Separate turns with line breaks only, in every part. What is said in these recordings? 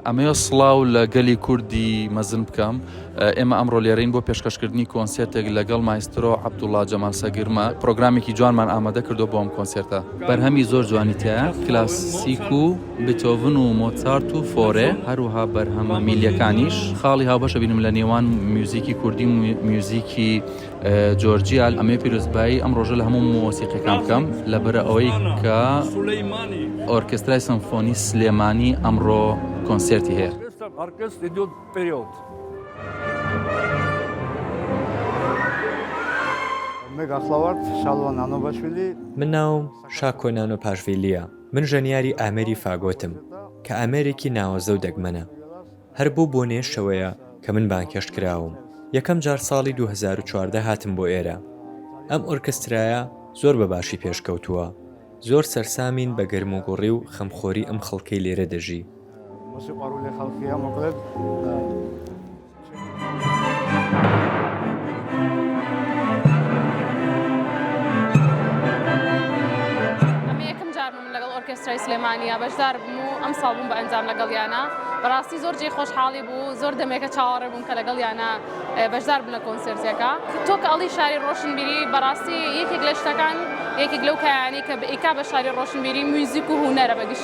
ئەمەوێ سڵاو
لە گەلی کوردی مەزن بکەم ئێمە ئەمڕۆ لێرەین بۆ پێشکەشکردنی کۆنسێتێک لەگەڵ مایسترۆ عبدوڵا جەمال سەگرمە پرۆگرامێکی جوانمان ئامادە کردو بۆم کۆنسێرتە بەرهەمی زۆر جوانیتە کلاسیک و بتۆڤن و مۆتسارت و فۆرێ، هەروەها بەرهەمە میللیەکانیش، خاڵی هاوبەش ئەبینم لە نێوان میوزیکی کوردی و میوزیکی جۆرجیا، ئەمەوێ پیرۆزبایی ئەم ڕۆژە لە هەموو مۆسیقیەکان بکەم، لەبەرئەوەی کە ئۆرکێسترای سەمفۆنی سلێمانی ئەمڕۆ کۆنسێرتی
هەیە.
من ژەنیاری ئامێری فاگۆتم کە ئامێرێکی ناوەزە و دەگمەنە. هەر بەو بۆنەیە شەوەیە کە من بانگهێشت کراوم. یەکەم جار ساڵی دوو هەزار و چواردە هاتم بۆ ئێرە. ئەم ئۆرکسترایە زۆر بە باشی پێش کەوتووە. زۆر سەرسامین بە گەرموگوڕی و خەمخۆری ئەم خەڵکەی لێرە دەژی.
ئۆرکێسترای سلێمانیا بەشدار بووم و ئەم ساڵ بووم بە ئەنجام لەگەڵیانە بەڕاستی زۆر جێ خۆشحاڵی بوو زۆر دەمێکە چاوەڕێ بووم کە لەگەڵیانە بەشدار بن لە کۆنسرتێکە تۆ کە ئەڵی شاری ڕۆشنبیری بەڕاستی یەکێک لە شتەکان یەکێک لەو کایانی کە بئیکا بە شاری ڕۆشنبیری میوزیک و هوەرە بەگشت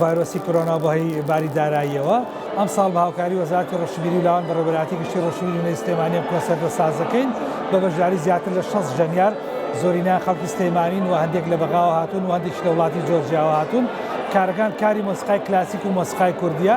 ڤایرۆسی کۆرۆنا بۆ هەی باری داراییەوە ئەمساڵ بە هاوکاری وەزارەتی ڕۆشنبیری و لاوان بەڕێوەبەرایەتی گشتی ڕۆشنبیری نوێی سلێمانی ئەم کۆنسێرتە ساز دەکەین بە بەشداری زیاتر لە شەست ژەنیار زۆرینەیان خەڵکی سلێمانین و هەندێک لە بەغاوە هاتوون و هەندێکیش لە وڵاتی جۆرجیاوە هاتوون کارەکان کاری مۆسیقای کلاسیک و مۆسیقای کوردییە